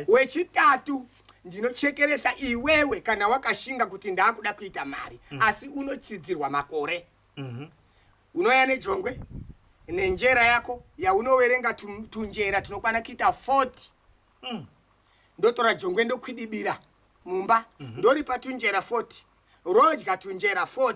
wechitatu ndinochekeresa iwewe kana wakashinga kuti ndaakuda kuita mari mm. asi unotsidzirwa makore mm -hmm. unoya nejongwe nenjera yako yaunoverenga tunjera tunokwana kuita 40 mm. ndotora jongwe ndokwidibira mumba mm -hmm. ndoripa tunjera 40 rodya tunjera 40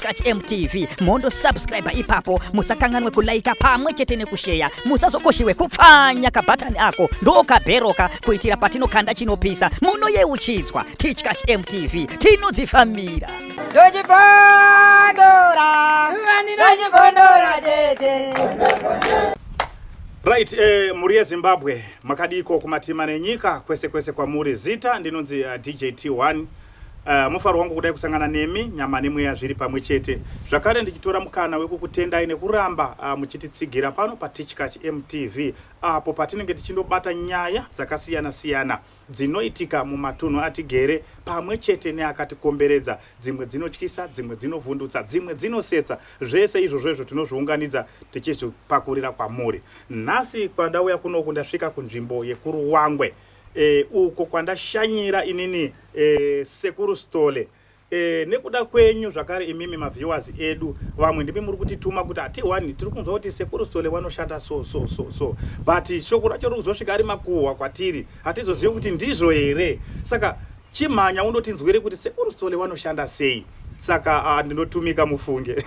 Church MTV mondo subscribe ipapo musakanganwe kulaika pamwe chete nekusheya musazokoshiwe kupfanya kabhatani ako ndokabheroka kuitira patinokanda chinopisa munoyeuchidzwa tichkach mtv tinodzifambira Right, eh, muri yezimbabwe makadiko kumatima nenyika kwese kwese kwamuri zita ndinonzi uh, eh, djt1 Uh, mufaro wangu kudai kusangana nemi nyama nemweya zviri pamwe chete zvakare ndichitora mukana wekukutendai nekuramba uh, muchititsigira pano patichkach mtv apo uh, patinenge tichindobata nyaya dzakasiyana siyana dzinoitika mumatunhu atigere pamwe chete neakatikomberedza dzimwe dzinotyisa dzimwe dzinovhundutsa dzimwe dzinosetsa zvese izvozvo izvo tinozviunganidza tichizvipakurira kwamuri nhasi kwandauya kunoku ndasvika kunzvimbo yekuruwangwe e, uko kwandashanyira inini e, sekuru stole e, nekuda kwenyu zvakare imimi maviewers edu vamwe ndimi muri kutituma kuti hatihwani tiri kunzwa kuti sekuru stole wanoshanda so so so so but shoko racho riri kuzosvika ari makuhwa kwatiri hatizozivi kuti ndizvo here saka chimhanya undotinzwere kuti sekuru stole wanoshanda sei saka uh, ndinotumika mufunge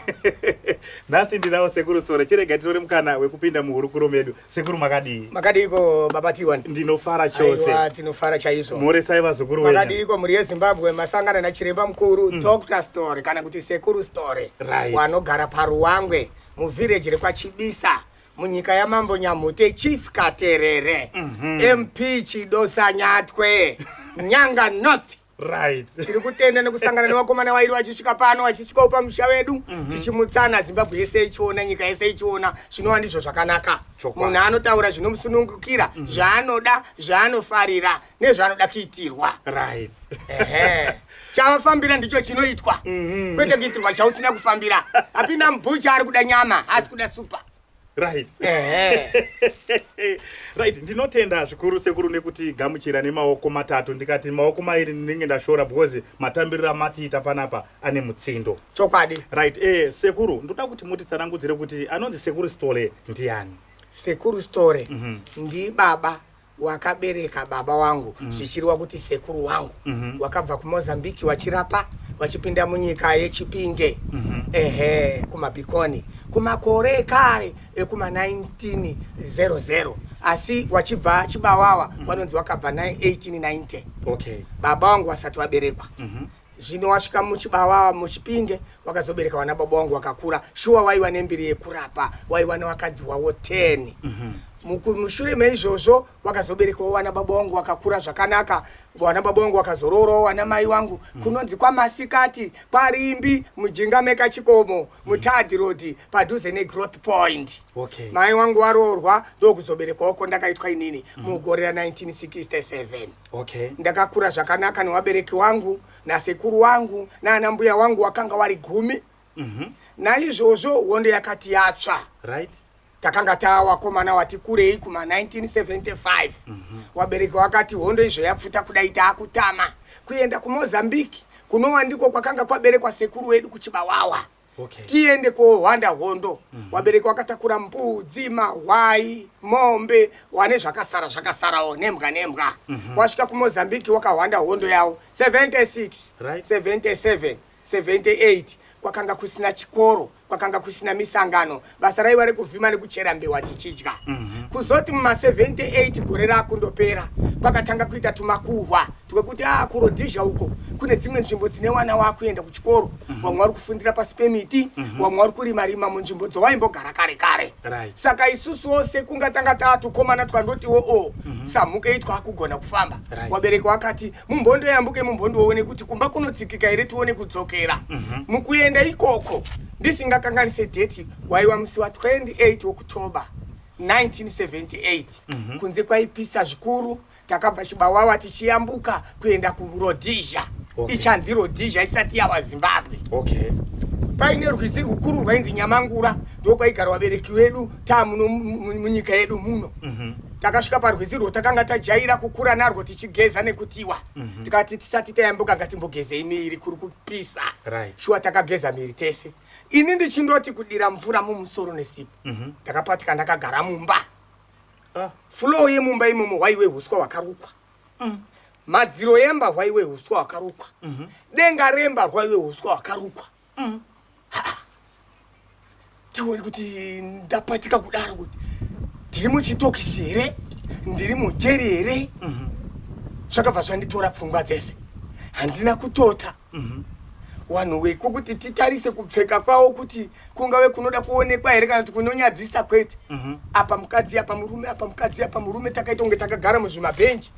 nhasi ndinawo sekuru stole chirega tirore mukana wekupinda muhurukuro medu Sekuru makadii? Makadiiko baba Tiwan? Ndinofara chose. Aiwa tinofara chaizvo. Mhoresai vazukuru wenyu. Makadiiko mhuri yeZimbabwe masangana nachiremba mukuru mm. Dr Story kana kuti Sekuru Story right. wanogara paRuwangwe muvhireji rekwaChibisa munyika yamambo Nyamhute Chief Katerere mm -hmm. MP Chidosa Nyatwe Nyanga North right tiri kutenda nekusangana nevakomana vairi vachisvika pano vachisvika upa musha vedu mm -hmm. tichimutsana zimbabwe yese ichiona nyika yese ichiona zvinova ndizvo zvakanaka munhu anotaura zvinomusunungukira mm -hmm. zvaanoda zvaanofarira nezvaanoda kuitirwa right chavafambira ndicho chinoitwa mm -hmm. kwete kuitirwa chausina kufambira hapina mbucha ari kuda nyama haasi kuda supa right right ndinotenda zvikuru sekuru nekuti gamuchira nemaoko matatu ndikati maoko mairi ndinenge ndashora because matambiriro amatiita panapa ane mutsindo chokwadi right eh sekuru ndoda kuti mutitsanangudzire kuti anonzi sekuru stole ndiani sekuru stole mm -hmm. ndibaba wakabereka baba wangu mm. zvichiriwa kuti sekuru wangu mm -hmm. wakabva kumozambique wachirapa wachipinda munyika yechipinge mm -hmm. ehe kumabhikoni kumakore ekare ekuma 1900 asi wachibva chibawawa mm -hmm. wanonzi wakabva 1890 okay. baba wangu wasati waberekwa mm -hmm. Zvino wasvika muchibawawa muchipinge wakazobereka vana baba wangu wakakura shuwa waiva nembiri yekurapa waiva newakadzi wavo 10 mm -hmm mushure meizvozvo vakazoberekawo wana baba wangu wakakura zvakanaka wana baba wangu wakazoroorawo wana mai wangu mm. kunonzi kwamasikati kwarimbi mujinga mekachikomo mm. mutadhi road padhuze negrowth point okay. mai wangu waroorwa ndokuzoberekwawo ko ndakaitwa inini mm. mugore ra 1967 Okay. Ndakakura zvakanaka newabereki wangu nasekuru wangu naana mbuya wangu wakanga wari gumi mm -hmm. naizvozvo hondo yakati yatsva right. takanga taa wakomana wati kurei kuma 1975 mm -hmm. wabereki wakati hondo izvo yapfuta kudai taakutama kuenda kumozambique kunowa ndiko kwakanga kwaberekwa sekuru wedu kuchibawawa okay. tiende kohwanda hondo mm -hmm. wabereki wakatakura mbudzi mahwai mombe wane zvakasara zvakasarawo nembwa nembwa mm -hmm. wasvika kumozambique wakahwanda hondo yavo 76 right. 77 78 kwakanga kusina chikoro kwakanga kusina misangano basa raiva rekuvhima nekuchera mbewa tichidya mhm. kuzoti muma 78 gore rakundopera kwakatanga kuita tumakuhwa twekuti a ah, kurodhizha uko kune dzimwe nzvimbo dzine wana wakuenda kuchikoro mhm. vamwe vari kufundira pasi pemiti mhm. vamwe vari kurima rima munzvimbo dzowaimbogara kare kare saka isusu ose kungatanga taatukomana twandotiwo o samhuke itwa akugona kufamba wabereki wakati mumhondo yambuke mumhondo woone kuti kumba kunotsikika here tione kudzokera mhm. mukuenda ikoko ndisingakanganise deti waiwa musi wa 28 woktober 1978 mhm. kunze kwaipisa zvikuru takabva chibawawa tichiyambuka kuenda kurodhizha ichanzi rodhizha isati yawa zimbabwe paine rwizi rwukuru rwainzi nyamangura ndokwaigara wabereki wedu ta muno munyika yedu muno mhm. takasvika parwizi rwo takanga tajaira kukura narwo tichigeza nekutiwa mhm. tikati tisati tayambuka ngatimbogezei miiri kuri kupisa shuwa takageza miiri tese ini ndichindoti kudira mvura mumusoro nesipo mhm. ndakapatika ndakagara mumba ah. flo yemumba imomo hwaiwe huswa hwakarukwa mm. madziro yemba hwaiwe huswa hwakarukwa denga remba hwaiwe huswa hwakarukwa Mm. Tiwori kuti ndapatika kudaro kuti ndiri muchitokisi here ndiri mujeri here mhm. zvakabva zvanditora pfungwa dzese handina kutota mhm. wanhu weko kuti titarise kupfeka kwawo kuti kungave kunoda kuonekwa here kana kuti kunonyadzisa kwete mhm. apa mukadzi apa murume apa mukadzi apa murume takaita kunge takagara muzvimabhenji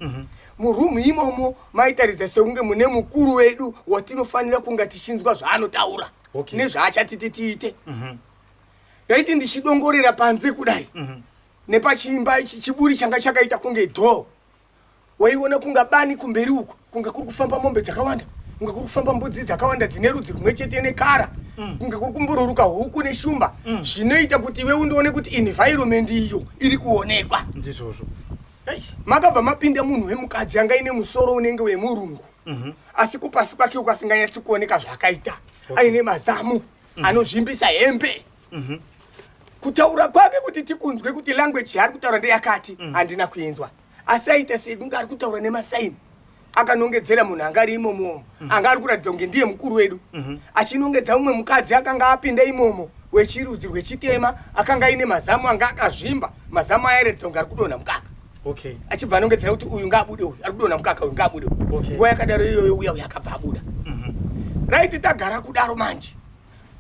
murumu imomo maitaridza sekunge mune mukuru wedu watinofanira kunga tichinzwa zvaanotaura okay. nezvaachatiti tiite mhm. ndaiti mm -hmm. ndichidongorera panze kudai mm -hmm. nepachiimba ichi chiburi changa chakaita kunge dhoo waiona kunga bani kumberi uko kunga kuri kufamba mombe dzakawanda kunga kuri kufamba mbudzi dzakawanda dzine rudzi rumwe chete nekara mm. kunga kuri kumbururuka huku neshumba mm. zvinoita kuti iwe undione kuti environment iyo iri kuonekwa ndizvozvo makabva mapinda munhu wemukadzi anga ine musoro unenge wemurungu mhm. asi kupasi kwake uko asinganyatsi kuoneka zvaakaita aine mazamu mhm. anozvimbisa hembe mhm. kutaura kwake kuti tikunzwe kuti language yaari kutaura ndeyakati handina kuinzwa asi aita sekunge ari kutaura nemasaini akanongedzera munhu anga ari imomo omo mhm. anga ari kuratidza kunge ndiye mukuru wedu mhm. achinongedza mumwe mukadzi akanga apinda imomo wechirudzi rwechitema akanga aine mazamu anga akazvimba mazamu ayaratidza kunge ari kudonha mukaka okay achibva anongedzera kuti uyu ngaabude uyu ari kudonha mukaka uyu ngaabude okay nguva yakadaro iyoyo uya uya akabva abuda mm -hmm. right tagara kudaro manje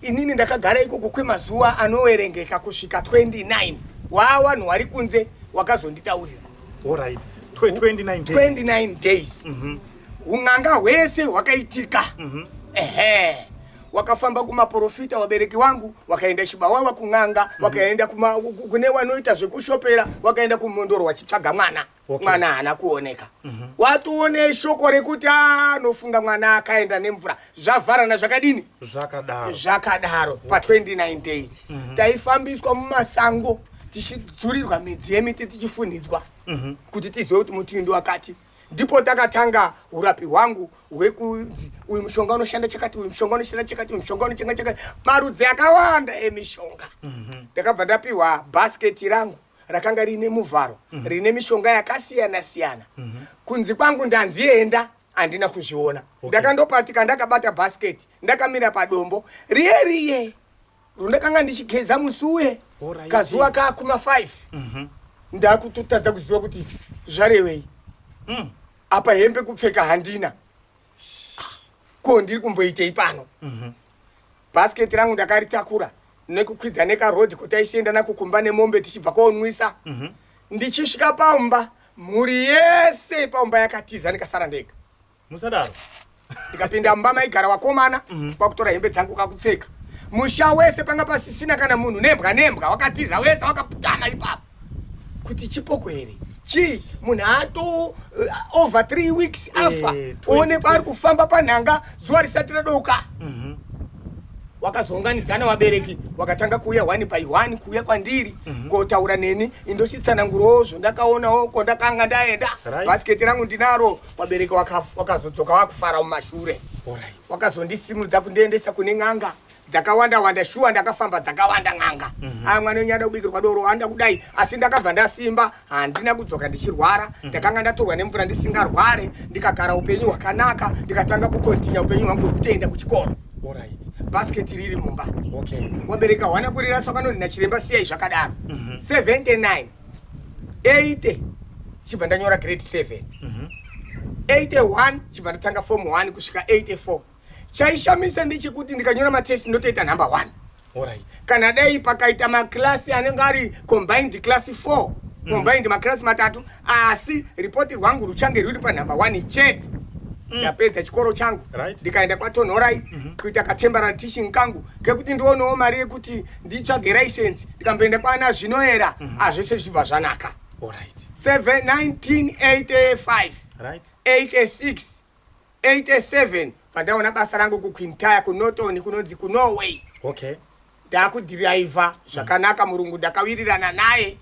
inini ndakagara ikoko kwemazuva anoverengeka kusvika 29 waa vanhu wari kunze wakazonditaurira right. 29 days, 29 days. Mm -hmm. un'anga hwese hwakaitika mm -hmm. ehe wakafamba kumaprofita wabereki wangu wakaenda chibawawa kun'anga mm -hmm. wakaenda kune wanoita zvekushopera wakaenda kumondoro wachitsvaga mwana okay. mwana haana kuoneka mm -hmm. watoone shoko rekuti anofunga ah, mwana akaenda nemvura zvavharana zvakadini zvakadaro zvakadaro pa 29 days mm -hmm. taifambiswa mumasango tichidzurirwa midzi yemiti tichifunidzwa mm -hmm. kuti tizive kuti muti ndi wakati ndipo takatanga urapi hwangu hwekunzi uyu mushonga unoshanda chakati uyu mushonga unoshanda chakati uyu mushonga unochanga chakati marudzi akawanda emishonga mhm. ndakabva mm -hmm. ndapiwa bhasketi rangu rakanga riine muvharo mm -hmm. rine mishonga yakasiyana siyana mm -hmm. kunzi kwangu ndanzi enda handina kuzviona okay. ndakandopatika ndakabata bhasiketi ndakamira padombo riye riye rundakanga ndichigeza musi uye kazuva kakuma 5 mm -hmm. ndakutotadza kuziva kuti zvarevei mm. apa hembe kupfeka handina ko ndiri kumboitei pano mm -hmm. Basket rangu ndakaritakura nekukwidza nekaroad kotaichienda nako kumba nemombe tichibva konwisa. Mm -hmm. Ndichisvika pamba mhuri yese pamba yakatiza ndikasara ndega. Musadaro. Ndikapinda mumba maigara wakomana mm -hmm. kwakutora hembe dzangu kakupfeka. Musha wese panga pasisina kana munhu nembwa nembwa wakatiza wese wakaputana ipapo. kuti chipoko here chii munhu ato uh, over three weeks eh, afa oonekwa ari kufamba panhanga zuva risati radouka mhm. wakazounganidzana vabereki wakatanga kuuya one by one kuuya kwandiri mhm. kotaura neni indochitsanangurawo zvondakaonawo kwondakanga ndaenda bhasiketi rangu ndinaro vabereki wakazodzoka wakufara mumashure wakazondisimudza kundiendesa kune n'anga dzakawanda wanda shuwa ndakafamba dzakawanda n'anga mm -hmm. aa mwana wenyu ada kubikirwa doro anda kudai asi ndakabva ndasimba handina kudzoka ndichirwara mm -hmm. ndakanga ndatorwa nemvura ndisingarware ndikagara upenyu hwakanaka ndikatanga kukontinya upenyu hwangu hwekutoenda kuchikoro right. basket riri mumba okay. wabereka hwana kurira sakanonzi nachiremba siyai zvakadaro mm -hmm. 79 80 chibva ndanyora grade 7 mm -hmm. 81 chibva ndatanga form 1 kusvika 84 chaishamisa ndechekuti ndikanyora matest ndotoita number one Alright. kana dai pakaita maklasi anenge ari combined class 4 mm. combined maklasi matatu asi ripoti rwangu ruchange rwuri panumber one chete mm. ndapedza mm. chikoro changu right. ndikaenda kwatonhorai mm -hmm. kuita katemporary teaching kangu kekuti ndionawo mari yekuti nditsvage license ndikamboenda kwana zvinoera mm -hmm. azvese zvibva zvanaka Alright. 7 1985 right. 86 87 bvandaona basa rangu kuquintire kunorton kunonzi kunorway okay ndakudhiraivha zvakanaka murungu ndakawirirana naye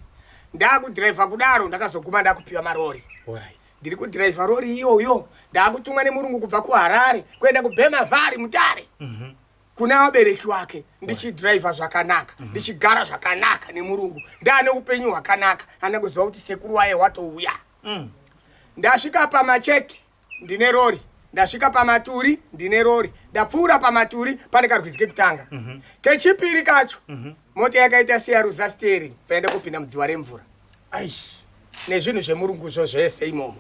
ndakudhiraivha kudaro ndakazoguma ndakupiwa marori right ndiri kudhiraivha rori iyoyo ndaakutumwa nemurungu kubva kuharare kuenda kubhemavari mutare mhm. kuna vabereki wake ndichidhiraivha zvakanaka mhm. ndichigara zvakanaka nemurungu ndaane upenyu hwakanaka ana kuziva kuti sekuru waye watouya Mm. Ndasvika pamacheki ndine rori ndasvika pamaturi ndine rori ndapfuura pamaturi pane karwizi kekutanga mm -hmm. kechipiri kacho mm -hmm. mota yakaita seyaruza steering paenda kupinda mudziwa remvura nezvinhu zvemurunguzvo zvese imomo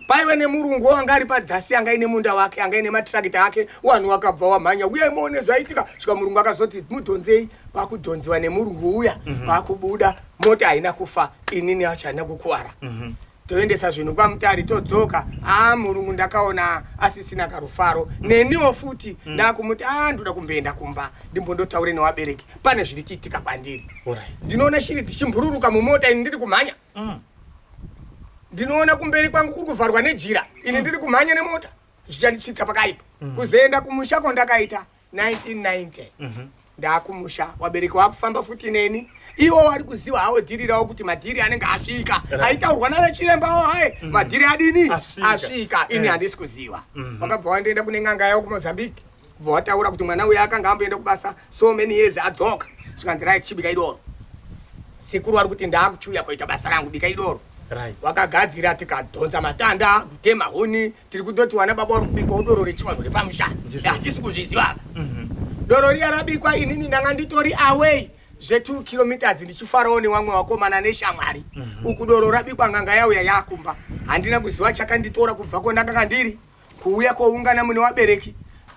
paive nemurungu wanga ari padzasi anga ine munda wake anga ine matirakita ake wanhu wakabva wamhanya uye imone zvaitika svika murungu akazoti mudhonzei vakudhonziwa nemurungu uya vakubuda mhm. mm -hmm. mota haina kufa inini yacho haina kukuwara mm -hmm. toendesa zvinhu kwamutari todzoka aa murungu ndakaona asisina karufaro mm. neniwo futi mm. ndakumuti a ndoda kumboenda kumba ndimbondotaure newabereki pane zviri kuitika kwandiri right. ndinoona shiri dzichimbururuka mumota ini ndiri kumhanya mm. ndinoona kumberi kwangu kuri kuvharwa nejira ini mm. ndiri kumhanya nemota zvichandichitsa pakaipa mm. kuzoenda kumusha kwandakaita 1990 mm -hmm. ndakumusha wabereki wakufamba futi neni iwo wari kuziva hawo dhiri rawo kuti madhiri anenge asvika aitaurwa nana chiremba wo haye mm. madhiri adini asvika ini eh. handisi kuziva mm-hmm. wakabva wandienda kune n'anga yawo kumozambique kubva wataura kuti mwana uya akanga amboenda kubasa so many years adzoka zvikanzi right chibika idoro sekuru wari kuti ndaakuchiuya koita basa rangu bika idoro wakagadzira tikadhonza matanda kutema huni tiri kutoti wana baba uri kubikwa udoro rechivanhu repamusha hatisi kuzviziva ava mhm. doro riya rabikwa inini ndanga nditori away zve2 kilometers ndichifarawo newamwe wakomana neshamwari mhm. uku doro rabikwa nganga yauya yakumba handina kuziva chakanditora kubva kwondakanga ndiri kuuya koungana mune wabereki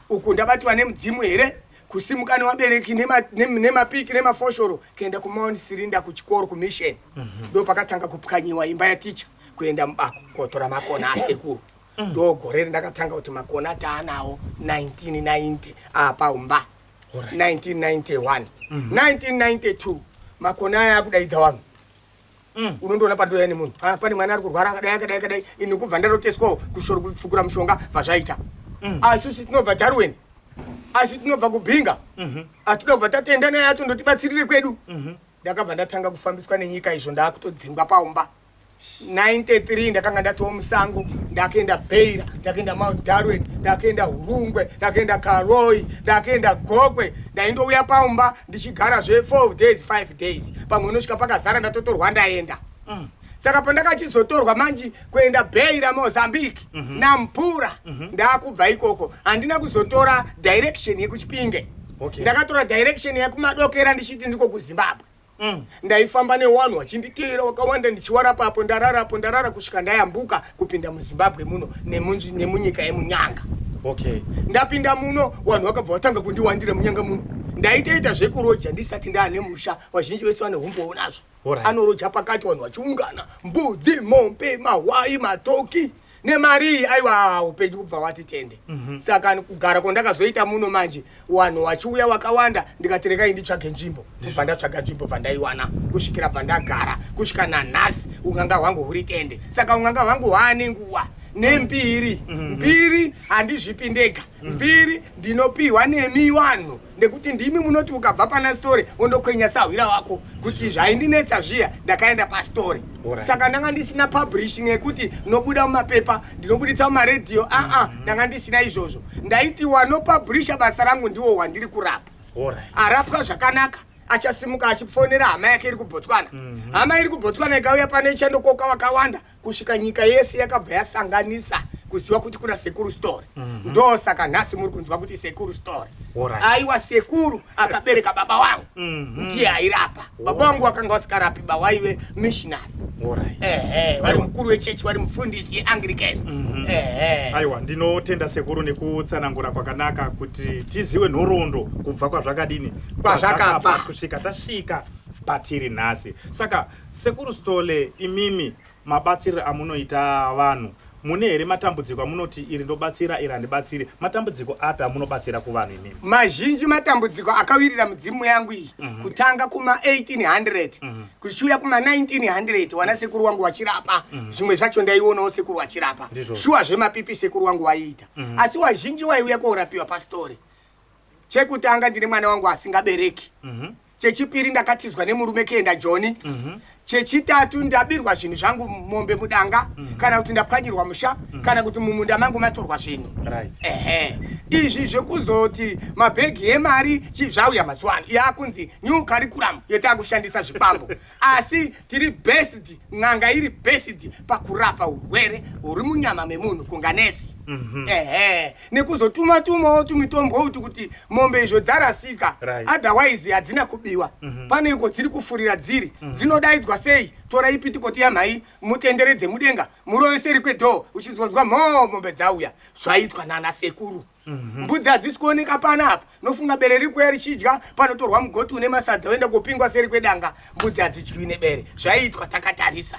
uku ndabatiwa nemudzimu here kusimuka newabereki nemapiki nemafoshoro kuenda kumaunt sirinda kuchikoro kumisheni mhm. ndo pakatanga kupwanyiwa imba yaticha kuenda mubako kotora makona asekuru mm. ndo gore rindakatanga kuti makona ataanawo 1990 apa umba 1991 1992 mm. makona aya akudaidza vanhu mm. unondoona pandoya nemunhu ah, pane mwana ari kurwara akadai akadai akadai ini kubva ndaroteswawo kushoro kupfukura mushonga vazvaita asi usi tinobva darwin asi tinobva kubhinga mhm. atida kubva tatenda naye atondotibatsirire kwedu mhm. ndakabva ndatanga kufambiswa nenyika izvo ndaakutodzingwa paumba 93 ndakanga ndatowa musango ndakaenda beira ndakaenda mount darwin ndakaenda hurungwe ndakaenda karoi ndakaenda gokwe ndaindouya pamumba ndichigara zve 4 days 5 days pamwe unosvika pakazara ndatotorwa ndaenda mm. saka pandakachizotorwa manji kuenda beira mozambique mm -hmm. nampura mm -hmm. ndakubva ikoko handina kuzotora direction yekuchipinge okay. ndakatora direction yekumadokera ndichiti ndiko kuzimbabwe Mm. ndaifamba newanhu wachinditeera wakawanda ndichiwarapa apo ndarara apo ndarara kusvika ndayambuka kupinda muzimbabwe muno nemunyika yemunyanga okay ndapinda muno wanhu wakabva watanga kundiwandira munyanga muno ndaitoita zvekuroja ndisati ndaane musha vazhinji vese vane humbowo nazvo anoroja pakati wanhu vachiungana mbudzi mombe mahwai matoki nemari iyi aiwa upenyu kubva wati tende mm -hmm. saka kugara kwandakazoita muno manje wanhu wachiuya wakawanda ndikati rekai nditsvage nzvimbo kubva ndatsvaga nzvimbo bva ndaiwana kusvikira bva ndagara kusvika nanhasi unganga hwangu huri tende saka unganga hwangu hwaane nguva nembiri mhm. mbiri handizvipi ndega mhm. mbiri ndinopiwa nemi wanhu nekuti ndimi munoti ukabva pana story wondokwenya sahwira wako kuti zvaindinetsa zviya ndakaenda pastory saka ndanga ndisina publishing yekuti nobuda mumapepa ndinobuditsa mumaredhiyo aa ah, ah, mm-hmm. ndanga ndisina izvozvo ndaiti wanopublisha basa rangu ndiwo wandiri kurapa arapwa zvakanaka achasimuka achifonera hama yake iri kubotswana mm-hmm. hama iri kubotswana ikauya pano ichandokoka wakawanda kusvika nyika yese yakabva yasanganisa kuziva kuti kuna sekuru story mm -hmm. ndo saka nhasi muri kunzwa kuti sekuru story right. aiwa sekuru akabereka baba wangu mm -hmm. ndiye airapa oh. baba wangu wakanga wasikarapi ba waive missionary right. ehe vari mukuru wechechi vari mufundisi yeanglican mm -hmm. ehe aiwa ndinotenda sekuru nekutsanangura kwakanaka kuti tiziwe nhoroondo kubva kwazvakadini kwazvakabva kusvika tasvika patiri nhasi saka Sekuru Sithole imimi mabatsiriro amunoita vanhu mune here matambudziko amunoti iri ndobatsira iri handibatsiri matambudziko api amunobatsira kuvanhu imimi mazhinji matambudziko akawirira mudzimu yangu iyi mm -hmm. kutanga kuma 1800 mm -hmm. kuchiuya kuma 1900 wana sekuru wangu wachirapa mm -hmm. zvimwe zvacho ndaionawo sekuru wachirapa shuwa zvemapipi sekuru wangu waiita mm -hmm. asi wazhinji waiuya koorapiwa pastori chekutanga ndine mwana wangu asingabereki mm -hmm. chechipiri ndakatizwa nemurume kuenda joni mm -hmm. chechitatu ndabirwa zvinhu zvangu mombe mudanga mm -hmm. kana kuti ndapwanyirwa musha mm -hmm. kana kuti mumunda mangu matorwa zvinhu right. ehe izvi zvekuzoti mabhegi emari chizvauya mazuva ano yakunzi new curriculum yetakushandisa zvikwambo asi tiri best n'anga iri best pakurapa urwere huri munyama memunhu kunganesi mhm. ehe nekuzotuma tumawo tumitombo uti kuti mombe izvo dzarasika otherwise hadzina kubiwa mhm. pane iko dziri kufurira dziri mhm. dzinodaidzwa sei tora ipi tikoti yamhai mutenderedze mudenga muroveseri kwedhoo uchinzonzwa mhoo mombe dzauya zvaitwa nana sekuru Mhm. mbudzi hadzisi kuoneka pana apa nofunga bere riri kuya richidya panotorwa mugoti une masadza oenda kupingwa seri kwedanga mbudzi hadzidyiwi nebere zvaiitwa takatarisa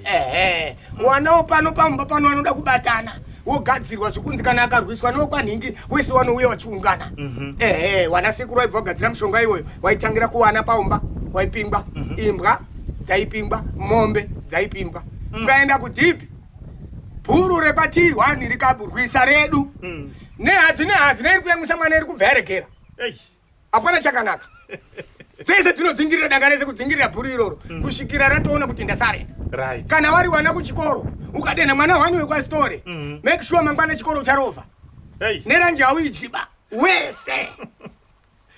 ehe wanawo pano pamumba pano anoda kubatana wogadzirwa zvekunzi kana akarwiswa newokwanhingi wese wanouya wachiungana mhm. ehe wana sekuru waibva wagadzira mushonga iwoyo waitangira kuwana paumba waipingwa mhm. imbwa dzaipingwa mombe dzaipingwa mm. ukaenda kudhipi bhuru repatii wani rikaburwisa redu mm. nehadzi nehadzi neiri kuyamwisa mwana iri kubva yaregera hapana chakanaka dzese dzinodzingirira danga rese kudzingirira bhuru iroro mm. kusvikira ratoona kuti ndasarenda right. kana wari wana kuchikoro ukadenha mwana wani wekwasitore mm. make sure mangwana chikoro ucharovha hey. neranje hauidyi ba wese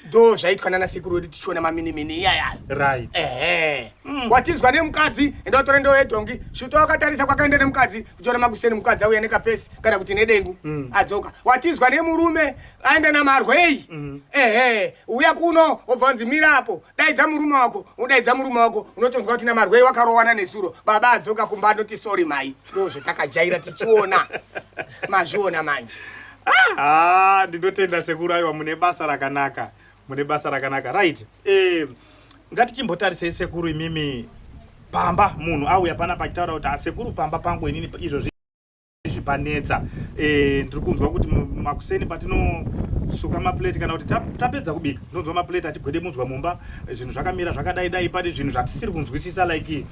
ndo zvaitwa nana sekuru wedu tichiona maminimini iyaya right ehe mm. watinzwa nemukadzi enda watore ndoo yedhongi svuto wakatarisa kwakaenda nemukadzi kuchiona makuseni mukadzi auya nekapesi kana kuti nedengu mm. adzoka watinzwa nemurume aenda namarwei mm. ehe uya kuno obva wanzi mira apo daidza murume wako udaidza murume wako unotonzwa kuti namarwei wakarowana nesuro baba adzoka kumba anoti sori mai ndozvatakajaira tichiona mazviona manje ah, ndinotenda sekuru aiwa mune basa rakanaka mune basa rakanaka right eh, ngatichimbotarisei sekuru imimi pamba munhu auya pana pachitaura kuti asekuru ah, pamba pangu inini izvozvi zvipanetsa eh, ndiri kunzwa kuti makuseni patinosuka maplate kana kuti tapedza kubika ndonzwa maplate achigwedemudzwa mumba zvinhu zvakamira zvakadai dai pane zvinhu zvatisiri kunzwisisa like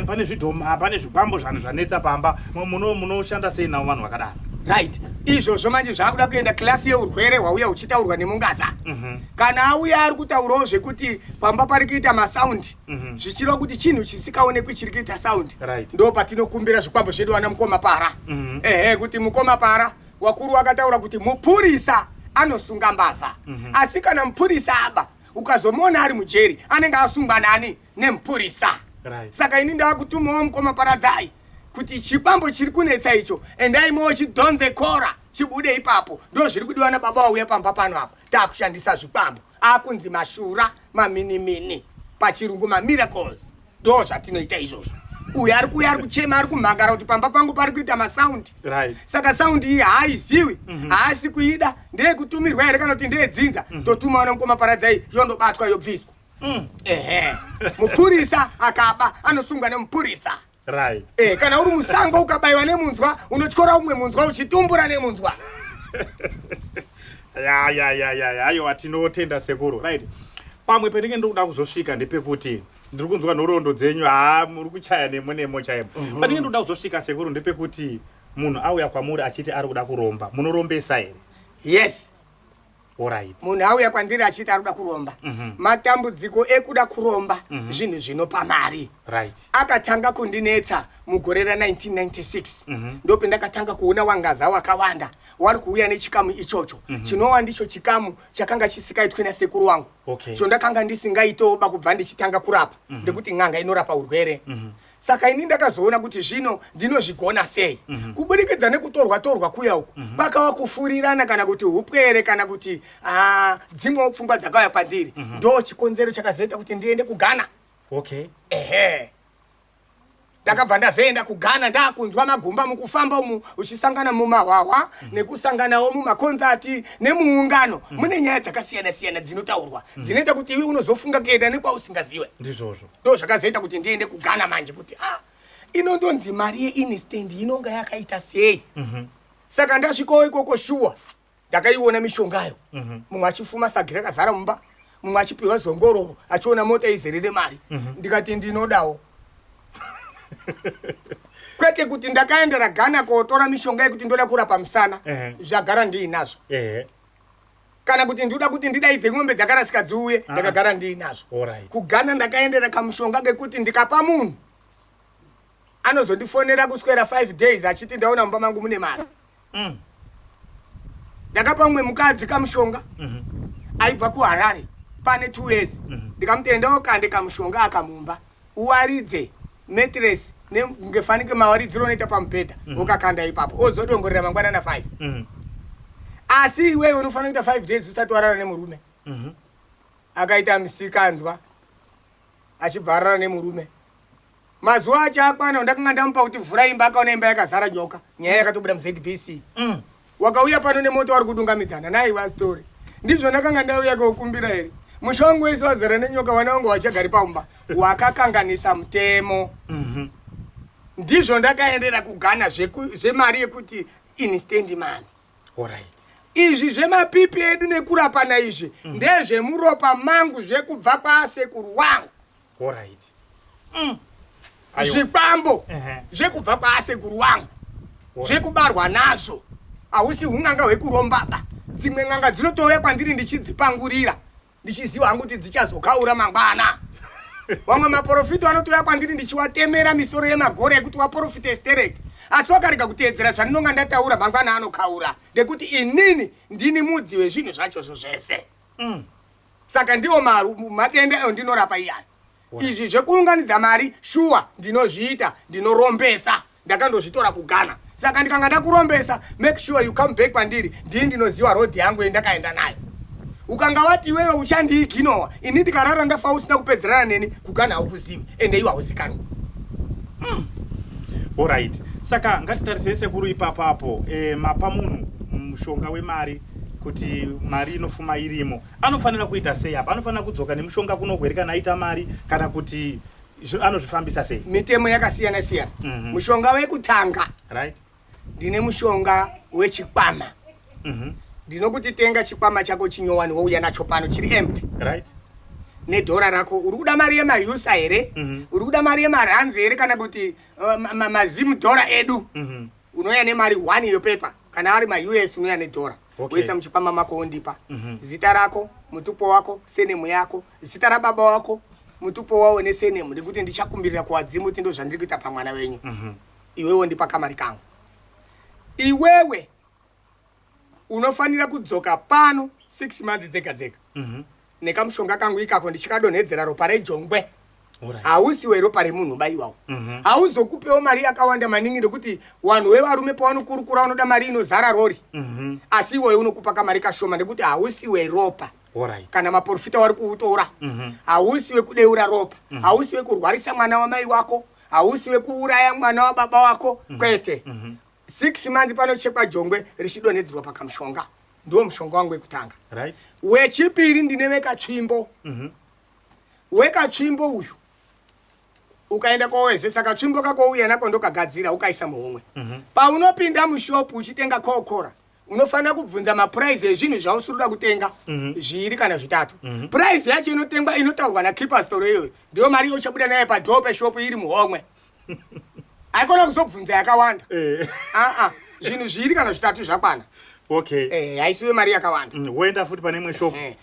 pane zvidhoma pane zvikwambo zvanhu zvanetsa pamba munoshanda sei navo vanhu vakadaro right izvozvo manje zvaakuda kuenda klasi yeurwere hwauya huchitaurwa nemungaza mm -hmm. kana auya ari kutaurawo zvekuti pamba pari kuita masaundi mm -hmm. zvichireva kuti chinhu chisikaonekwi chiri kuita saundi right. ndo patinokumbira zvikwambo zvedu vana mukoma para mm -hmm. ehe kuti mukoma para Wakuru wakataura kuti mupurisa anosunga mbavha mm -hmm. asi kana mupurisa aba ukazomuona ari mujeri anenge asungwa nani nemupurisa right. saka ini ndakutumawo mukoma paradzai kuti chibambo chiri kunetsa icho endai mowo chidhonze kora chibude ipapo ndo zviri kudiwa nababa wauya pamba pano apo takushhandisa zvikwambo akunzi mashura maminimini pachirungu mamiracles ndo zvatinoita izvozvo uyu ari kuuya ari kuchema ari kumhangara kuti pamba pangu pari kuita masaundi right. saka saundi iyi haaiziwi mm -hmm. haasi kuida ndeyekutumirwa here kana kuti ndeyedzinza mm -hmm. totumawo nemukoma paradzai yondobatwa yobviswa mm. ehe mupurisa akaba anosungwa nemupurisa Rai. Eh, kana uri musango ukabaiwa nemunzwa unotyora umwe munzwa uchitumbura nemunzwa. ya ya ya ya ya ayo atinotenda sekuru right pamwe pendenge ndokuda kuzosvika ndepekuti ndiri kunzwa nhoroondo dzenyu haa muri kuchaya nemo nemo chaimo mm -hmm. pandenge ndokuda kuzosvika sekuru ndepekuti munhu auya kwamuri achiti ari kuda kuromba munorombesa here yes Alright. munhu auya kwandiri achiti ari kuda kuromba Mhm. matambudziko ekuda kuromba Mhm. zvinhu zvinopa mari Right. akatanga kundinetsa mugore ra 1996 Mhm. ndope ndakatanga kuona wangaza wakawanda wari kuuya nechikamu ichocho Mhm. chinowa ndicho chikamu chakanga chisikaitwi nasekuru wangu Okay. chondakanga ndisingaitoba kubva ndichitanga kurapa Mhm. ndekuti n'anga inorapa urwere Mhm. saka ini ndakazoona kuti zvino ndinozvigona sei mm -hmm. kuburikidza nekutorwa torwa kuya uku mm -hmm. pakava kufurirana kana kuti upwere kana kuti ah, dzimwewo pfungwa dzakauya kwandiri mm -hmm. ndo chikonzero chakazoita kuti ndiende kugana okay. ehe ndakabva ndazoenda kugana ndakunzwa magumba mukufamba umu uchisangana mumahwahwa mm -hmm. nekusanganawo mumakonzati nemuungano mm -hmm. mune nyaya dzakasiyana siyana dzinotaurwa mm -hmm. dzinoita kuti iwe unozofunga kuenda nekwausingaziwe ndizvozvo ndo zvakazoita kuti ndiende kugana manje kuti a ah, inondonzi mari yeinstand inonga yakaita sei mhm. saka ndasvikawo ikoko shuwa ndakaiona mishongayo mhm. mumwe achifuma sagi rakazara mumba mumwe achipiwa zongororo achiona mota izere nemari mhm. ndikati ndinodawo kwete kuti ndakaendera gana kotora mishonga yekuti ndoda kurapa musana zvagara ndiinazvo kana kuti ndinoda kuti ndidaidze n'ombe dzakarasika dziuye ah. ndakagara ndiinazvo kugana ndakaendera kamushonga kekuti ndikapa munhu anozondifonera kuswera five days achiti ndaona mumba mangu mune mari mm. ndakapa mumwe mukadzi kamushonga mhm. aibva kuharare pane two years mhm. ndikamutendawo kande kamushonga akamumba uwaridze matress ngefanike mawaridziro unoita pamubhedha mhm. ukakanda ipapo ozodongorera mangwana na 5 mhm. asi iwewe unofanira kuita 5 days usati warara nemurume mhm. akaita misikanzwa achibva arara nemurume mazuva acho akwana ndakanga ndamupa kuti vhura imba akaona imba yakazara nyoka nyaya yakatobuda muzbc mm. Wakauya pano nemoto wari kudungamidzana naye wa story. Ndizvo ndakanga ndauya kokumbira here? Musha wangu wese wazara nenyoka wana wangu wachagari pamba. Wakakanganisa mutemo. Mhm. Mm ndizvo ndakaendera kugana zvemari yekuti instendi mani orit izvi zvemapipi edu nekurapana izvi mm. ndezvemuropa mangu zvekubva kwasekuru wangu Horaiti. Mm. Ayo. Zvikwambo Ehe. zvekubva kwaasekuru wangu zvekubarwa nazvo hausi un'anga hwekurombaba dzimwe n'anga dzinotouya kwandiri ndichidzipangurira ndichiziva hangu kuti dzichazokaura mangwana vamwe maporofito anotouya kwandiri ndichiwatemera misoro yemagora ekuti waporofita estereki asi wakarega kuteedzera zvandinonga ndataura mangwana anokaura ngekuti inini ndini mudzi wezvinhu zvachozvo zvese saka ndiwo madenda ayo ndinorapa iyaya izvi zvekuunganidza mari shuwa ndinozviita ndinorombesa ndakandozvitora kugana saka ndikanga ndakurombesa make sure you come back kwandiri ndii ndinoziva road yangu yendakaenda nayo ukanga wati iwewe uchandiiginowa ini ndikarara ndafa usina kupedzerana neni kugana haukuzivi ende iwe hauzikanwa mm. orit saka ngatitarisei sekuru ipapapo e, eh, mapa munhu mushonga wemari kuti mari inofuma irimo anofanira kuita sei apa anofanira kudzoka nemushonga kuno here kana aita mari kana kuti anozvifambisa sei mitemo yakasiyana siyana mm -hmm. mushonga wekutanga right ndine mushonga wechikwama mm -hmm. ndinokuti tenga chikwama chako chinyowani wouya nacho pano chiri empty right nedhora rako uri kuda mari yemahusa here mm -hmm. uri kuda mari yemaranzi here kana kuti uh, mazimu dhora edu mm -hmm. unouya nemari one yopepa kana ari maus unouya nedhora okay. woisa muchipama mako wondipa mm -hmm. zita rako mutupo wako senemu yako zita rababa wako mutupo wawo nesenemu nekuti ndichakumbirira kuwadzimu kuti ndozvandiri kuita pamwana wenyu mm -hmm. iwewe wondipa kamari kangu iwewe unofanira kudzoka pano six months dzega dzega mm -hmm. nekamushonga kangu ikako ndichikadonhedzera ropa rejongwe hausi weropa remunhu baiwawo mhm. hauzokupewo mari yakawanda maningi nekuti wanhu wevarume pawanokurukura wanoda mari inozara rori mhm. asi iwoye unokupa kamari kashoma nekuti hausi weropa kana maporofita wari kuutora mhm. hausi wekudeura ropa hausi wekurwarisa mwana wamai wako hausi wekuuraya mwana wababa wako kwete six month panochekwa jongwe richidonhedzerwa pakamushonga ndiwo mushonga wangu wekutanga right. wechipiri ndine vekatsvimbo mm -hmm. wekatsvimbo uyu ukaenda kowezesa katsvimbo kakouya nako ndokagadzira ukaisa muhomwe mm -hmm. paunopinda mushopu uchitenga kokora unofanira kubvunza mapuraizi ezvinhu zvausiri kuda kutenga mhm. zviiri kana zvitatu mhm. puraizi yacho inotengwa inotaurwa nakeeper store iyoyo ndiyo mari yauchabuda nayo padhoo peshopu iri muhomwe haikona kuzobvunza yakawanda eh. aa zvinhu zviri kana zvitatu zvakwana okay eh haisiwe mari yakawanda mm, woenda futi pane imwe shop eh.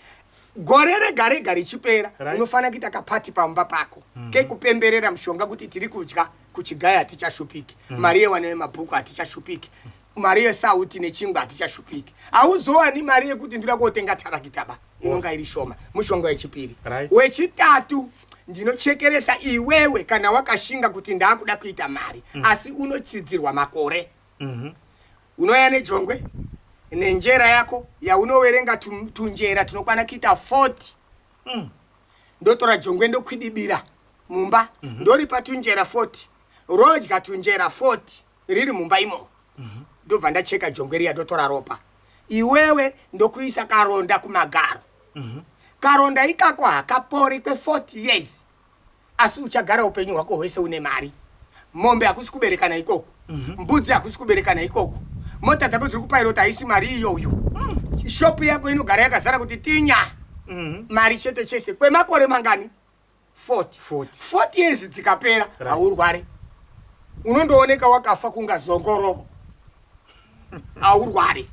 gore rega rega richipera right. unofanira kuita kapati pamba pako mm -hmm. kekupemberera mushonga kuti tiri kudya kuchigaya hatichashupiki mm -hmm. mari yewana yemabhuku hatichashupiki mm -hmm mari yesauti nechingwa hatichashupiki hauzowani mari yekuti ndira kuotenga tarakita ba inonga iri shoma mushonga wechipiri right. wechitatu ndinochekeresa iwewe kana wakashinga kuti ndaakuda kuita mari mm. asi unotsidzirwa makore mm -hmm. unoya nejongwe nenjera yako yaunoverenga tunjera tunokwana kuita 40 mm. ndotora jongwe ndokwidibira mumba mm -hmm. ndoripa tunjera 40 rodya tunjera 40 riri mumba imomo ndobva ndacheka jongwe riya ndotora ropa iwewe ndokuisa karonda kumagaro karonda ikako hakapori kwe40 years asi uchagara upenyu hwako hwese une mari mombe hakusi kuberekana ikoko mbudzi hakusi kuberekana ikoko mota dzako dziri kupairota haisi mari iyoyo shopu yako inogara yakazara kuti tinya mari chete chese kwemakore mangani 40 years dzikapera haurware unondooneka wakafa kunga zongorovo haurware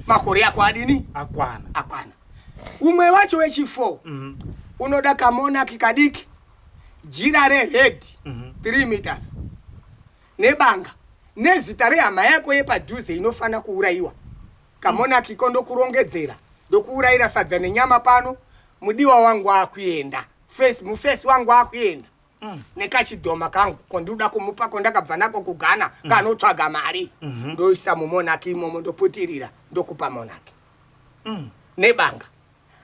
makore ako adini akwana akwana umwe wacho wechi4 mm -hmm. unoda kamonaki kadiki jira rered mm -hmm. three meters nebanga nezita rehama yako yepadhuze inofanira kuurayiwa kamonaki ko ndokurongedzera ndokuurayira sadza nenyama pano mudiwa wangu akuenda face muface wangu akuenda mm. nekachidhoma kangu kondikuda kumupa kondakabva nako kugana mm. kanotsvaga mari mm -hmm. ndoisa mumonaki imomo ndoputirira ndokupa monaki mm. nebanga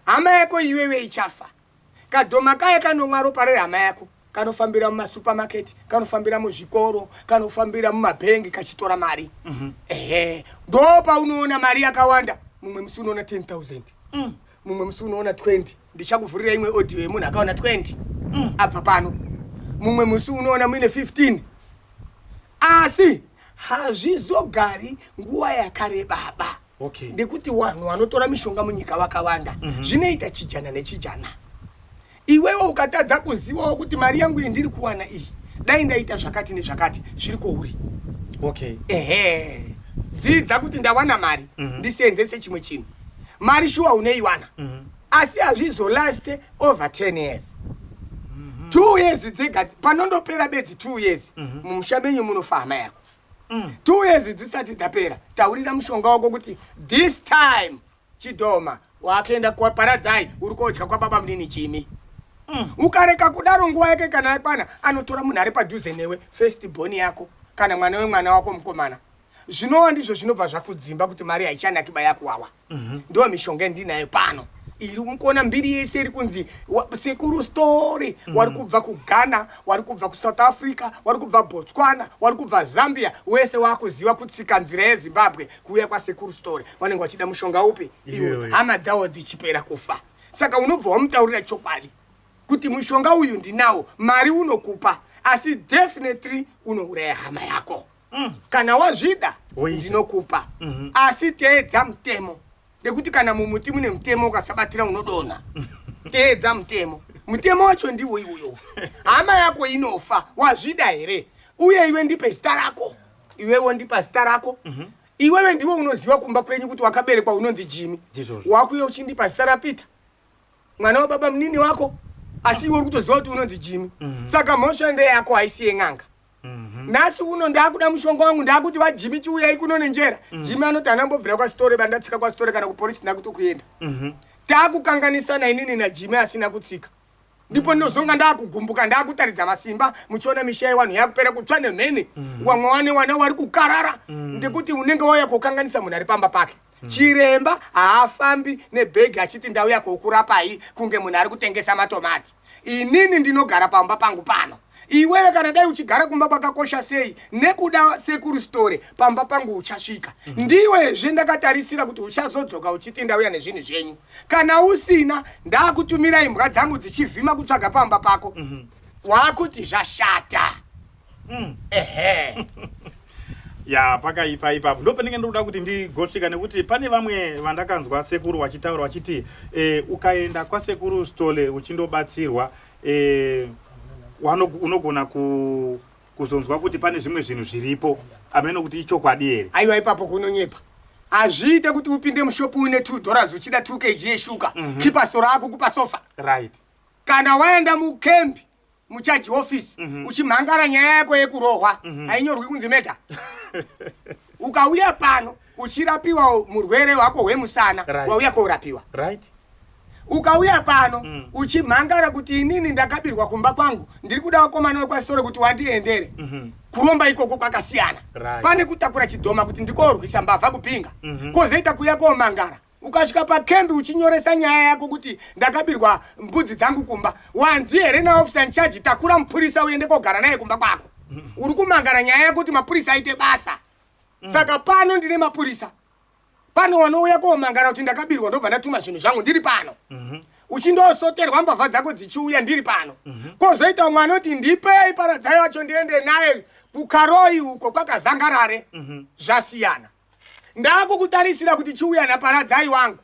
hama yako iwewe ichafa kadhoma kaye kanomwa ropa rehama yako kanofambira mumasupermarket kanofambira muzvikoro kanofambira mumabhengi kachitora mari mm -hmm. ehe ndo paunoona mari yakawanda mumwe musi unoona 10 000 mm. mumwe musi unoona 20 ndichakuvhurira imwe audio yemunhu akaona 20 mm. abva pano mumwe musi unoona muine 15 asi hazvizogari nguva yakarebaba okay. ndekuti vanhu vanotora mishonga munyika vakawanda mm -hmm. zvinoita chijana nechijana Iwewe ukatadza kuzivawo kuti mari yangu iyi ndiri kuwana iyi dai ndaita zvakati nezvakati zviri kwouri. Okay. Ehe. Zidza kuti ndawana mari mm -hmm. ndiseenzese chimwe chinhu. Mari shuwa unoiwana. Mm -hmm. Asi hazvizo last over 10 years. Mm -hmm. Two years dzega panondopera bedzi two years mm -hmm. mumusha menyu munofa hama yako. Mm. Two years dzisati dzapera taurira mushonga wako kuti this time Chidhoma. Wakaenda kwaparadzai uri kodya kwababa munini Jimmy. Mm. Ukareka kudaro nguva yake kana yakwana anotora munhu ari padhuze newe first born yako kana mwana wemwana wako mukomana. Zvinowa ndizvo zvinobva zvakudzimba kuti mari haichanaki bayakuwawa. Mm -hmm. Ndiwo mishonga ndinayo pano iri mukuona mbiri yese iri kunzi sekuru story mm. wari kubva kughana wari kubva kusouth africa wari kubva botswana wari kubva zambia wese wakuziva kutsika nzira yezimbabwe kuuya kwasekuru story vanenge vachida mushonga upi iwe hama dzawo dzichipera kufa saka unobva wamutaurira chokwadi kuti mushonga uyu ndinawo mari unokupa asi definitely unouraya hama yako mm. kana wazvida ndinokupa mm -hmm. asi teedza mutemo nekuti kana mumuti mune mutemo ukasabatira unodonha teedza mutemo mutemo wacho ndiwo iwoyo hama yako inofa wazvida here uye iwe ndipe zita rako iwe wondipa zita rako mhm. iwewe ndiwe unoziva kumba kwenyu kuti wakaberekwa unonzi jimi wakuye uchindipa zita rapeter mwana wababa munini wako asi iwe uri kutoziva kuti unonzi jimi mhm. saka mhosva ndeyako haisi yen'anga mhm. nhasi uno ndaakuda mushonga wangu ndaakuti vajimi chiuyai kuno nenjera jimi anoti anambobvira kwasitore bandatsika kwasitore kana kuporisi ndakutokuenda taakukanganisana inini najimi asina kutsika ndipo ndinozonga ndakugumbuka ndakutaridza masimba muchiona misha yewanhu yakupera kutsva nemheni mm. wamwe wane wana wari kukarara mm. ndekuti unenge wauya kukanganisa munhu ari pamba pake mm. chiremba haafambi nebhegi achiti ndauya kokurapai kunge munhu ari kutengesa matomati inini ndinogara pamba pangu pano Iwewe kana dai uchigara kumba kwakakosha sei nekuda sekuru Sitore pamba pangu uchasvika. Mm -hmm. Ndiwezve ndakatarisira kuti uchazodzoka uchiti ndauya nezvinhu zvenyu. Kana usina ndakutumira imbwa dzangu dzichivhima kutsvaga pamba pako. Mm -hmm. Wakuti zvashata. Mm. Ehe. ya pakaipa ipapo ndo pandinge ndokuda kuti ndigosvika nekuti pane vamwe vandakanzwa sekuru vachitaura vachiti e, ukaenda kwasekuru stole uchindobatsirwa eh, unogona ku kuzonzwa kuti pane zvimwe zvinhu zviripo ameno kuti ichokwadi here aiwa ipapo kunonyepa hazviite kuti upinde mushopu une two dollars uchida two kg yeshuka mm -hmm. kipa stora ako kupa sofa right kana waenda mukembi muchaji office mm -hmm. uchimhangara nyaya yako yekurohwa mm -hmm. hainyorwi kunzi meda ukauya pano uchirapiwa murwere wako hwemusana right. wauya kourapiwa right ukauya pano mm. uchimhangara kuti inini ndakabirwa kumba kwangu ndiri kuda wakomana wekwasitore kuti wandiendere mm -hmm. kuromba ikoko kwakasiyana right. pane kutakura chidhoma kuti ndikorwisa mbavha kupinga mm -hmm. kozoita kuya komangara ukasvika pakembi uchinyoresa nyaya yako kuti ndakabirwa mbudzi dzangu kumba wanzi here naofisa nchaji takura mupurisa uende kogara naye kumba kwako mm -hmm. uri kumangara nyaya yako kuti mapurisa aite basa mm. saka pano ndine mapurisa pano wanouya komangara kuti ndakabirwa ndobva ndatuma zvinhu zvangu ndiri pano mhm. uchindosoterwa mbavha dzako dzichiuya ndiri pano mhm. kozoita umwe anoti ndipei paradzai wacho ndiende naye kukaroi uko kwakazangarare mhm. zvasiyana ndakukutarisira kuti chiuya naparadzai wangu